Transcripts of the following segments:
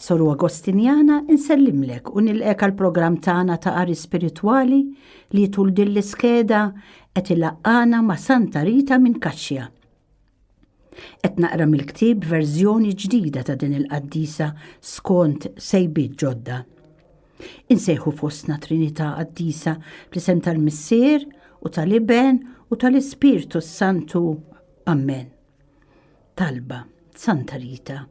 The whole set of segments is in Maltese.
Soru Agostinjana, insellimlek u nilqek għall-programm tagħna ta' qari spiritwali li tul din l-iskeda qed ilaqqana ma' Santa Rita minn Kaxxja. Qed naqra mill-ktieb verżjoni ġdida ta' din il-qaddisa skont sejbiet ġodda. Insejħu fostna Trinità qaddisa fl-isem tal-Missier u tal-Iben u tal-Ispirtu Santu. Amen. Talba, Santa Rita,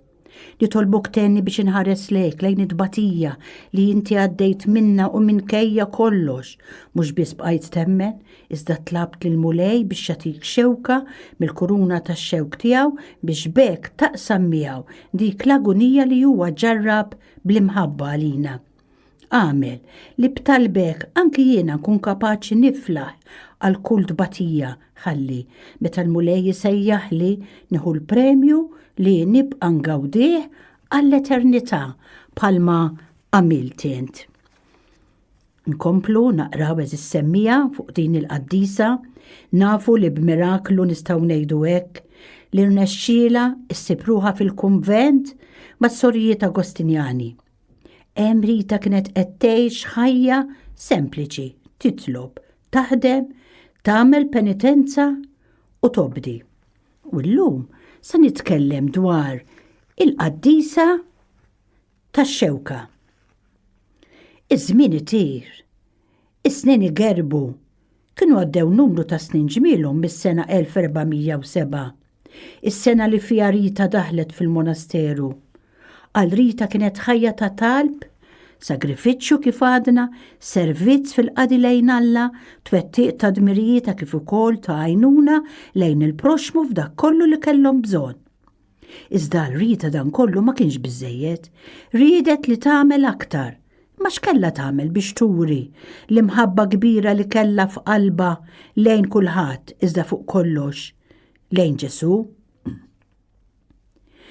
nitolbok tenni biex inħares lejk lejn it-tbatija li inti għaddejt minna u minn kejja kollox, mhux biss bqajt temmen, iżda tlabt lil mulej biex jatik xewka mill-kuruna tax-xewk tiegħu biex bek taqsam miegħu dik l-agunija li huwa ġarrab bl-imħabba għalina. Għamel li b'talbek anki jiena nkun kapaċi niflaħ għal kull tbatija ħalli meta l-Mulej jisejjaħli nieħu l-premju li nibqa' ngawdih għall-eternità bħalma għamilt int. Nkomplu naqraw eżis semmija fuq din il-qaddisa, nafu li b'miraklu nistgħu ngħidu hekk li rnexxiela ssib ruħa fil-kunvent mas-sorijiet Agostinjani Hemm Rita kienet qed tgħix ħajja sempliċi, titlob, taħdem, tagħmel penitenza u tobdi. U llum se nitkellem dwar il-qaddisa tax-xewka. Iż-żmien itir, is-snin igerbu, Kienu għaddew numru ta' snin ġmielhom mis-sena 1407, is-sena li fiha Rita daħlet fil-monasteru. Għal Rita kienet ħajja ta' talb, sagrifiċċju kif għadna, servizz fil-qadi lejn Alla, twettiq ta' dmirijieta kif ukoll ta' għajnuna lejn il-proxxmu f'dak kollu li kellhom bżonn. Iżda għal Rita dan kollu ma kienx biżejjed. Riedet li tagħmel aktar. Ma x'kella tagħmel biex turi l-imħabba kbira li kellha f'qalba lejn kulħadd iżda fuq kollox lejn Ġesù?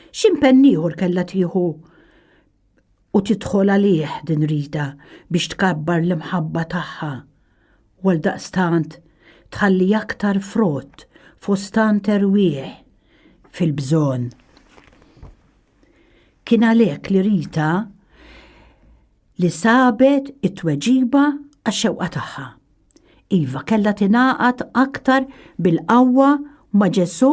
X'impenn ieħor kellha tieħu u tidħol għalih din rida biex tkabbar l-imħabba tagħha u għaldaqstant tħalli aktar frott fost tant erwieħ fil-bżonn. Kien għalhekk li Rita li sabet it-tweġiba għax-xewqa tagħha. Iva, kellha tingħaqad aktar bil-qawwa ma' Ġesù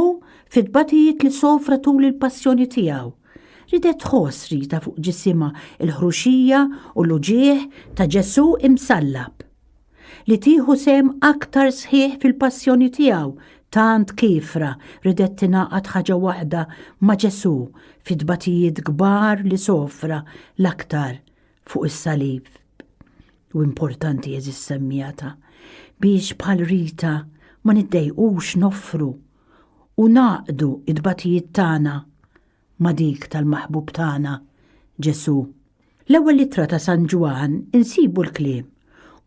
fit-tbatijiet li sofra tul il-passjoni tiegħu. Ridet tħoss rita fuq ġisimha l-ħruxija u l-uġigħ ta' Ġesù imsallab. Li tieħu sehem aktar sħiħ fil-passjoni tiegħu tant kiefra ridet tingħaqad ħaġa waħda ma' Ġesù fit-tbatijiet kbar li sofra l-aktar fuq is-salib u importanti jeżis semmijata biex bħal rita ma niddejqux noffru u naqdu id-batijiet tagħna ma' dik tal-maħbub tagħna Ġesu. L-ewwel litra ta' San Ġwan insibu l-kliem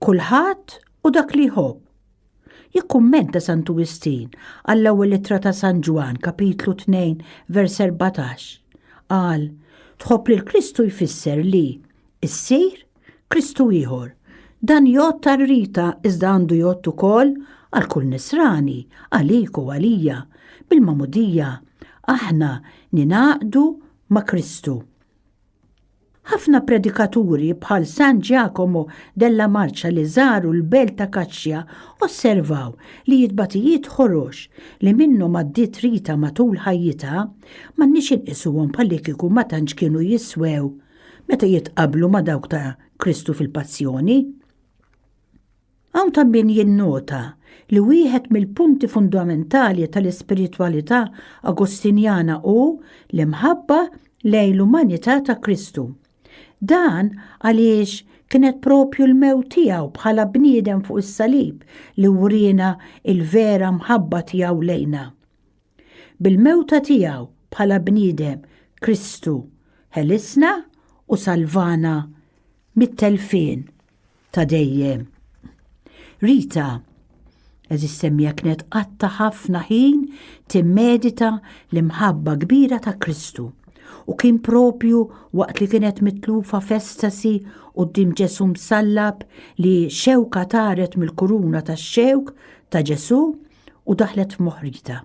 kulħadd u dak li jħobb Jikkummenta Santu Wistin għall-ewwel ittra ta' San Ġwann, kapitlu 2, vers 14. Qal, tħobb lil Kristu jfisser li issir Kristu ieħor. Dan jgħodd għal Rita iżda għandu jgħodd ukoll għal kull Nisrani, għalik u għalija. Bil-magħmudija aħna ningħaqdu ma' Kristu. Ħafna predikaturi bħal San Giacomo della Marcia li żaru l-belt ta' Kaċċja osservaw li jitbatijiet ħorox li minnhom għaddiet Rita matul ħajjitha m'għandniex inqisuhom bħallikieku ma tantx kienu jiswew meta jitqabblu ma' dawk ta' Kristu fil-Passjoni. Hawn ta' min jinnota li wieħed mill-punti fundamentali tal-ispiritwalità Agustinjana hu l-imħabba lejn l-umanità ta' Kristu. Dan għaliex kienet proprju l-mewt tiegħu bħala bniedem fuq is-salib li wriena l-vera mħabba tiegħu lejna. Bil-mewta tiegħu bħala bniedem Kristu ħelisna u salvana mit-telfien ta' dejjem. Rita, eżis semmija kienet qatta ħafna ħin timmedita l-imħabba kbira ta' Kristu u kien propju waqt li kienet mitlufa festasi u d-dim Ġesu msallab li xewka taret mill-kuruna ta' xewk ta' Ġesu u daħlet f'moħrita.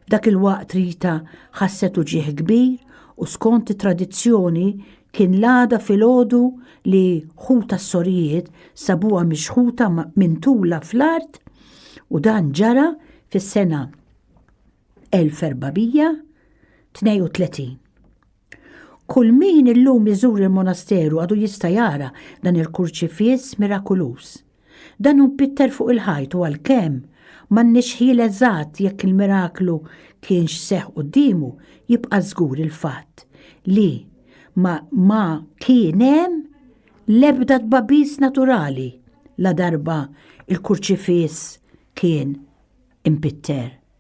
F'dak il-waqt Rita ħasset uġigħ kbir u skont it-tradizzjoni kien l-għada filgħodu li ħuta s-sorijiet sabuha mixħuta mintula fl-art u dan ġara fis-sena 1432. Kull min illum iżur il-monasteru għadu jista' jara dan il-kurċifiss mirakuluż. Dan hu mpitter fuq il-ħajt u għalkemm m'għandniex ħjiel eżatt jekk il-miraklu kienx seħħ quddiemu, jibqa' żgur il-fatt li ma, ma kien hemm l-ebda tbabis naturali ladarba l-kurċifiss kien impitter.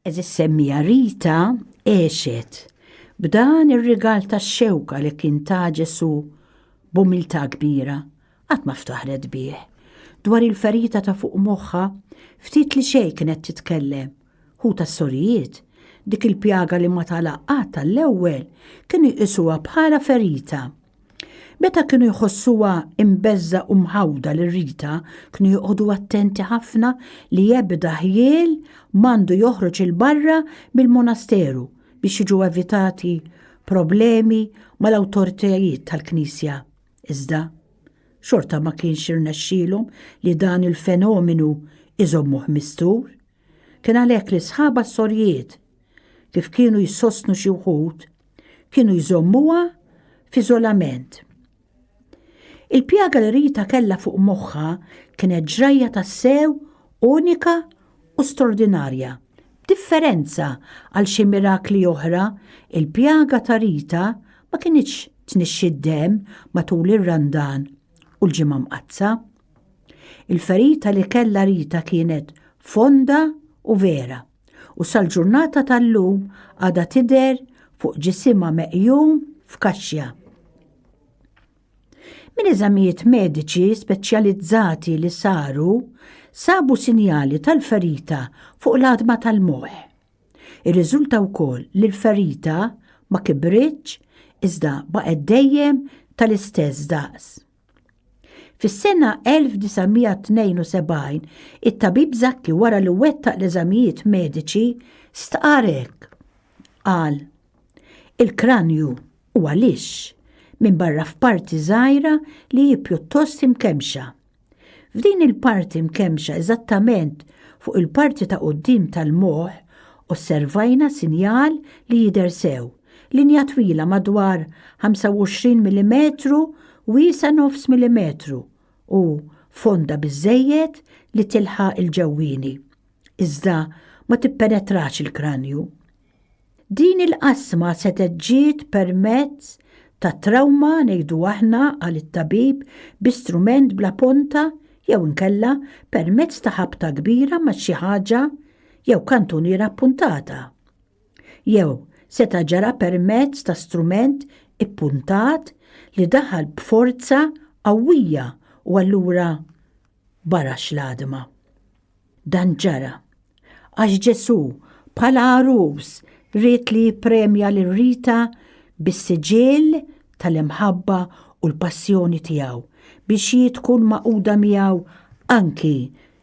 Eżis semmija Rita għexet b'dan ir-rigal tax-xewka li kien ta' Ġesu b'umiltà kbira qatt ma ftaħret bih. Dwar il-ferita ta' fuq moħħa ftit li xejn kienet titkellem. Hu tas-sorijiet dik il-pjaga li ma tagħlaq qatt għall-ewwel kienu jqisuha bħala ferita Meta kienu jħossuha imbeżża u mħawda lil Rita, kienu joqogħdu attenti ħafna li ebda ħjiel m'għandu joħroġ il-barra mill-monasteru biex jiġu evitati problemi mal-awtoritajiet tal-Knisja. Iżda, xorta ma kienx irnexxielhom li dan il-fenomenu iżommuh mistur. Kien għalhekk li sħaba s-sorjiet kif kienu jsostnu xi wħud, kienu jżommuha f'iżolament. Il-pjaga li Rita kellha fuq moħħa kienet ġrajja tassew unika u straordinarja. Differenza għal xi mirakli oħra, il-pjaga ta' Rita ma kinitx tnixxi d-demm matul ir-Randan u l-Ġimgħa Mqaddsa. Il-ferita li kellha Rita kienet fonda u vera. u sal-ġurnata tal-lum għada tidher fuq ġisimha meqjum f'kaxxja. Minn eżamijiet mediċi speċjalizzati li saru, sabu sinjali tal-ferita fuq l-għadma tal-moħ. Irriżulta wkoll li l-ferita ma kibritx iżda baqgħet dejjem tal-istess daqs. Fis-sena 1972, it-tabib Zakki wara li wettaq l-eżamijiet mediċi stqar hekk. Qal, Il-kranju huwa lix, minn barra f'parti żgħira li hi pjuttost imkemmxa. F'din il-parti mkemmxa eżattament fuq il-parti ta' quddiem tal-moħħ osservajna sinjal li jidher sew. Linja twila madwar 25 mm wiesa nofs millimetru u fonda biżżejjed li tilħaq il-ġewwieni, iżda ma tippenetrax il-kranju. Din il-qasma setgħet ġiet permezz ta' trawma ngħidu aħna qal it-tabib bi strument bla ponta jew inkella permezz ta' ħabta kbira ma' xi ħaġa jew kantuniera appuntata. Jew seta' ġara permezz ta' strument ippuntat li daħal b'forza qawwija u allura barax l-għadma. Dan ġara għax Ġesù bħala għarus ried li jippremja lil Rita bis-siġill tal-imħabba u l-passjoni tiegħu biex hi tkun magħquda miegħu anki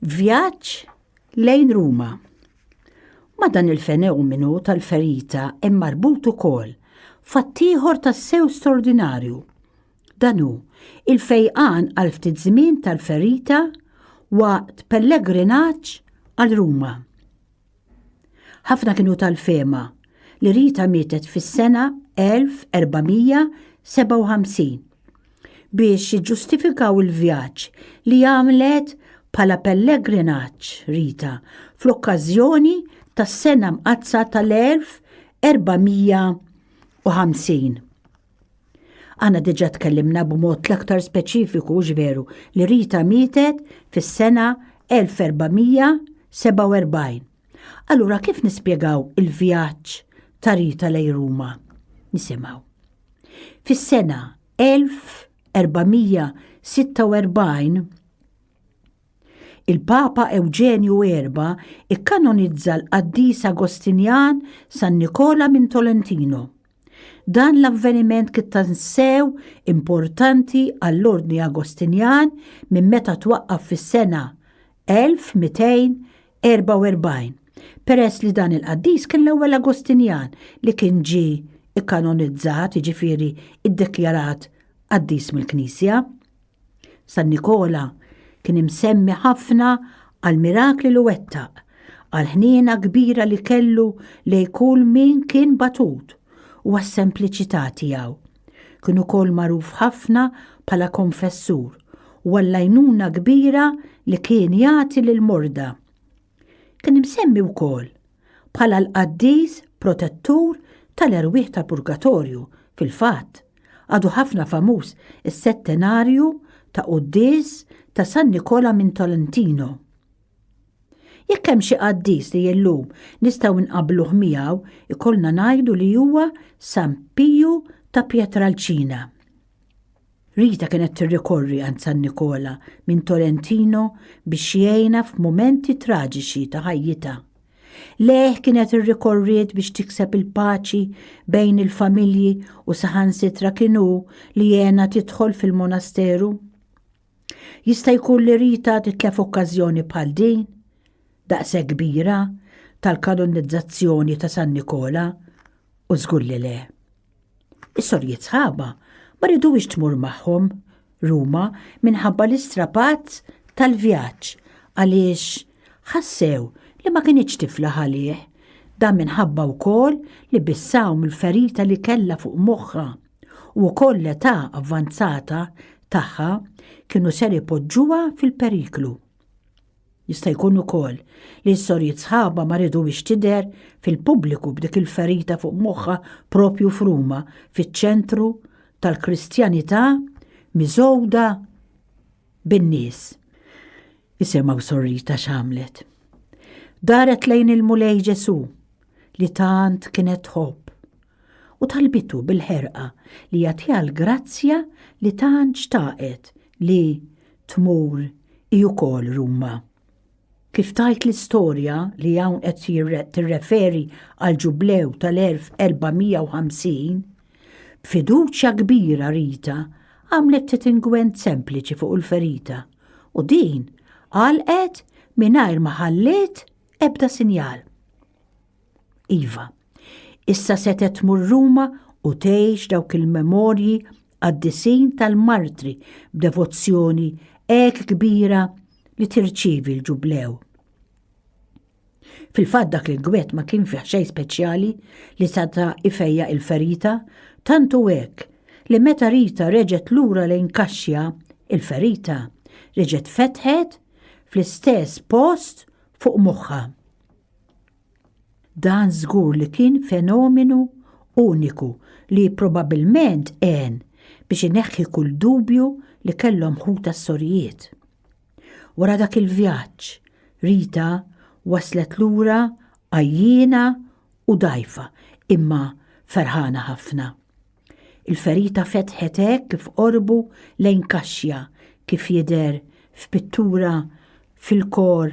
Vjaġġ lejn Ruma. Ma dan il-fenomenu tal-ferita hemm marbut ukoll fattieħor tas-sew straordinarju. Dan hu il-fejqan għal ftit żmien tal-ferita waqt pellegrinaġġ għal Ruma. Ħafna kienu tal-fehma li Rita mietet fis-sena 1457 biex jiġġustifikaw il-vjaġġ li għamlet bħala pellegrinaġġ Rita fl-okkażjoni tas-Sena Mqaddsa tal-1450. Aħna diġà tkellimna b'mod l-aktar speċifiku hux veru li Rita mietet fis-sena 1447. Allura kif nispjegaw il-vjaġġ ta' Rita lejn Ruma? Nisimgħu. Fis-sena 1446 Il-Papa Ewġenju erba ikkanonizza l-qaddis Agostinjan San Nikola minn Tolentino. Dan l-avveniment kien tassew importanti għall-Ordni Agostinjan minn meta twaqqaf fis-sena 1200 44 peress li dan il-qaddis kien l-ewwel Agostinjan li kien ġie ikkanonizzat, jiġifieri ddekjarat qaddis mill-Knisja. San Nikola kien imsemmi ħafna għal mirakli li wettaq, għal ħniena kbira li kellu lej kull min kien batut u għas-sempliċità tiegħu. Kien ukoll magħruf ħafna bħala konfessur u għall-għajnuna kbira li kien jagħti lill-morda. Kien imsemmi wkoll bħala l-qaddis protettur tal-erwieħ tal-purgatorju, fil-fatt, għadu ħafna famuż is-settenarju ta' quddies ta' San Nikola minn Tolentino. Jekk hemm xi qaddis li illum nistgħu nqabbluh miegħu, ikollna ngħidu li huwa San Piju ta' Pietralcina. Rita kienet tirrikorri għand San Nikola minn Tolentino biex jgħinha f'mumenti traġiċi ta' ħajjitha. Lejh kienet irrikorriet biex tikseb il-paċi bejn il-familji u saħansitra kienu li jena tidħol fil-monasteru. Jista' jkun li Rita titlef okkażjoni bħal din, daqse kbira tal-kanonizzazzjoni ta' San Nikola u żgur li le. Is-sorjiet sħaba ma ridux tmur magħhom Ruma minħabba l-istrapat tal-vjaġġ għaliex ħassew li ma kinitx tiflaħ għalih. Dan minħabba wkoll li bissaw mill-ferita li kellha fuq moħħha u wkoll l-età avvanzata tagħha kienu ser ipoġġuha fil-periklu. Jista' jkun ukoll li s-sorijiet sħabha ma ridux tidher fil-pubbliku b'dik il-ferita fuq moħħha proprju f'Ruma, fiċ-ċentru tal-Kristjanità miżgħuda bin-nies. Isimgħu s-sorrita x'għamlet. Daret lejn il-Mulej Ġesù li tant kienet tħobb u talbitu bil-ħerqa li jagħtiha l-grazzja li tant xtaqet li tmur hi wkoll Ruma. Kif tajt l-istorja li hawn qed tirreferi għal ġublew tal-1450, b'fiduċja kbira Rita għamlet ftit ingwent sempliċi fuq il-ferita u din għalqet mingħajr ma ħalliet ebda sinjal. Iva. Issa setgħet tmur Ruma u tgħix dawk il-memorji qaddisin tal-martri b'devozzjoni hekk kbira li tirċievi l-Ġublew. Fil-fatt dak il-gwett ma kien fih xejn speċjali li seta' ifejja il-ferita, tantu hekk li meta Rita reġgħet lura lejn Kaxja, il-ferita reġgħet fetħet fl-istess post fuq moħħha. Dan żgur li kien fenomenu uniku li probabilment għen biex ineħħi kull dubju li kellhom ħutha s-sorijiet. Wara dak il-vjaġġ, Rita waslet lura għajjiena u dgħajfa imma ferħana ħafna. Il-ferita fetħet hekk kif qorbu lejn kaxja kif jidher f'pittura fil-kor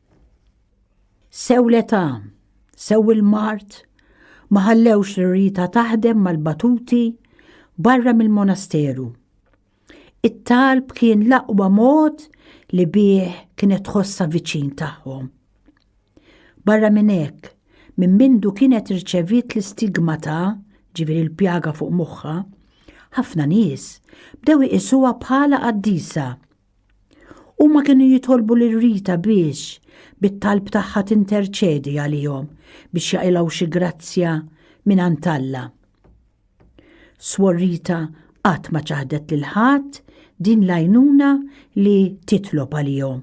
Sew l-età, sew il-mart, ma ħallewx li Rita taħdem mal-batuti barra mill-monasteru. It-talb kien l-aqwa mod li bih kienet tħossha viċin tagħhom. Barra minn hekk, minn mindu kienet irċeviet l-istigma ta' ġifieri l-pjaga fuq moħħha, ħafna nies bdew iqisuha bħala qaddisa Huma kienu jitolbu lil Rita biex bit-talb tagħha tinterċedi għalihom biex jaqilgħu xi grazzja mingħand Alla. Swor Rita qatt ma ċaħdet lil ħadd din l-għajnuna li titlob għalihom.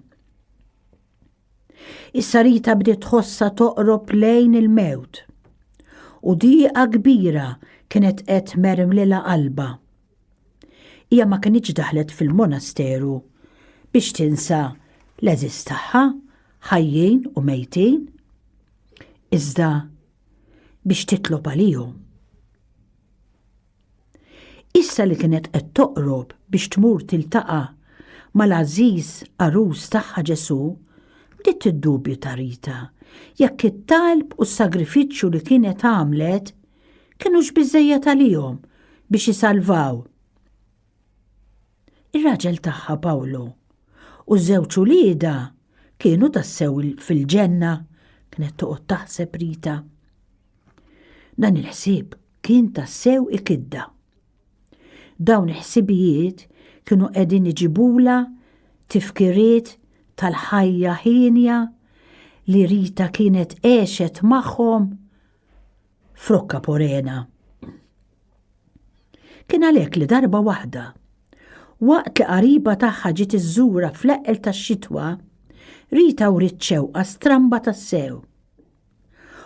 Issa Rita bdiet tħossha toqrob lejn il-mewt. U diqa kbira kienet qed mermlila qalba. Hija ma kinitx daħlet fil-monasteru biex tinsa l-għeżież tagħha, ħajjin u mejtin, iżda biex titlob għalihom. Issa li kienet qed toqrob biex tmur tiltaqa' mal-għażiż għarus tagħha Ġesù, bdiet tiddubju ta' Rita jekk it-talb u s-sagrifiċċju li kienet għamlet Kinux biżejjed għalihom biex isalvaw ir-raġel tagħha Pawlu u żewġ uliedha kienu tassew fil-ġenna, kienet toqgħod taħseb Rita. Dan il-ħsieb kien tassew ikidda. Dawn il-ħsibijiet kienu qegħdin iġibula tifkiriet tal-ħajja ħinja li Rita kienet għexet magħhom Frokka porena. Kien għalhekk li darba waħda, waqt li qariba tagħha ġiet iżżura fl-eqqel tax-xitwa, Rita u xewqa stramba tassew.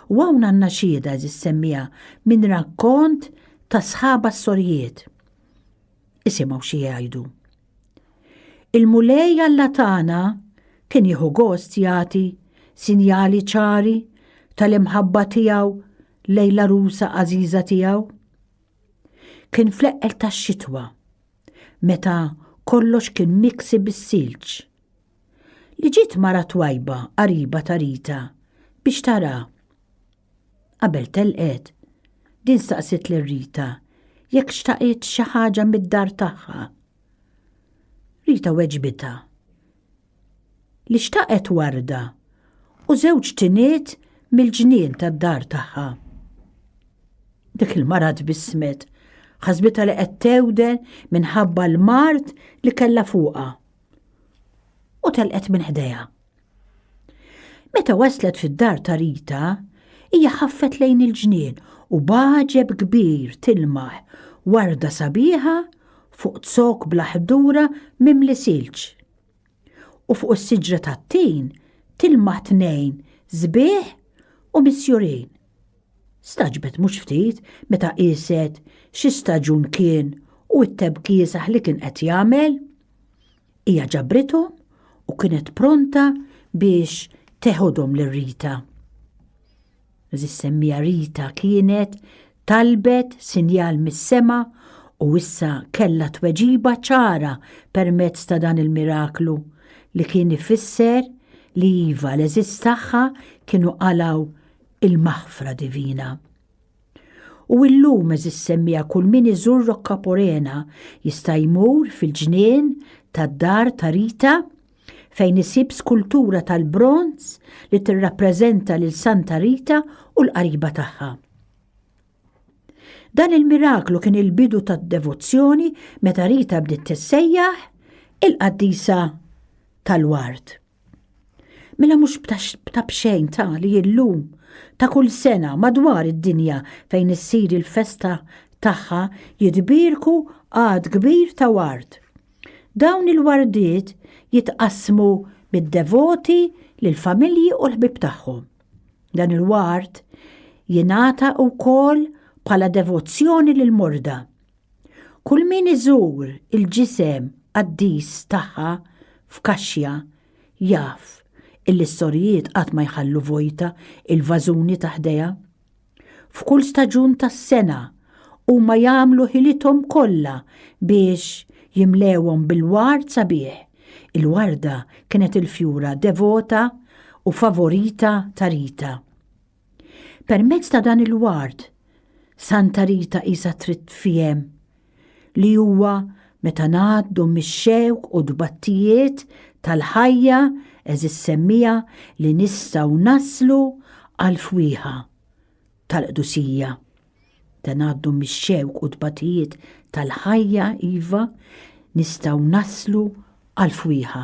U hawn għandna xieda eżis semmija minn rakkont ta' sħaba s-sorjiet. Isimgħu xi jgħidu. Il-Mulej Alla tagħna kien jieħu gost jagħti sinjali ċari tal-imħabba tiegħu lejn l-għarusa għażiża tiegħu. Kien fl-eqqel tax-xitwa, meta kollox kien miksi bis-silġ. li ġiet mara twajba qariba ta' Rita biex tara. Qabel telqet, din staqsiet lil Rita jekk xtaqitx xi ħaġa mid-dar tagħha. Rita weġbitha li xtaqet warda u żewġ tiniet mill-ġnien tad-dar tagħha. Dik il-mara tbissmet, ħasbitha li qed tewden minħabba l-mard li kellha fuqha. u telqet minn ħdejha. Meta waslet fid-dar ta' Rita, hija ħaffet lejn il-ġnien u baġeb kbir tilmaħ warda sabiħa fuq zok bla ħdura mimli silġ. U fuq is-siġra tat-tin tilmaħ tnejn żbieħ u misjurin. Stagħġbet mhux ftit meta qieset xi staġun kien u t-tebkiesaħ li kien qed jagħmel. Hija ġabrithom u kienet pronta biex teħodhom lil Rita. Eżis semmija Rita kienet talbet sinjal mis-sema u issa kellha tweġiba ċara permezz ta' dan il-miraklu li kien ifisser li iva l-eżis tagħha kienu qalaw il-maħfra divina. U illum eżis semmija kull min iżur Rokka Porena jista' jmur fil-ġnien tad-dar ta' Rita fejn isib skultura tal-bronz li tirrappreżenta lil Santa Rita u l-qariba tagħha. Dan il-miraklu kien il-bidu tad-devozzjoni meta Rita bdiet tissejjaħ il-qaddisa tal-ward. Mela mhux ta' bxejn ta' li illum ta' kull sena madwar id-dinja fejn issir il-festa tagħha jitbierku għad kbir ta' ward. Dawn il-wardiet jitqassmu mid-devoti lill-familji u l-ħbieb tagħhom. Dan il-ward jingħata wkoll bħala devozzjoni lill-morda Kull min iżur il-ġisem qaddis tagħha f'kaxja jaf illi s-sorijiet qatt ma jħallu vojta il-vażuni ta' ħdejha. F'kull staġun tas-sena huma jagħmlu ħilithom kollha biex jimlewhom bil-ward sabiħ. Il-warda kienet il-fjura devota u favorita ta' Rita. Permezz ta' dan il-ward, Santa Rita qisha trid tfiehem li huwa meta ngħaddu mix-xewk u tbattijiet tal-ħajja eżis semmija li nistgħu naslu għall-fwieħa tal-qdusija. Meta ngħaddu mix-xewk u tbattijiet tal-ħajja iva nistgħu naslu għall-fwieħa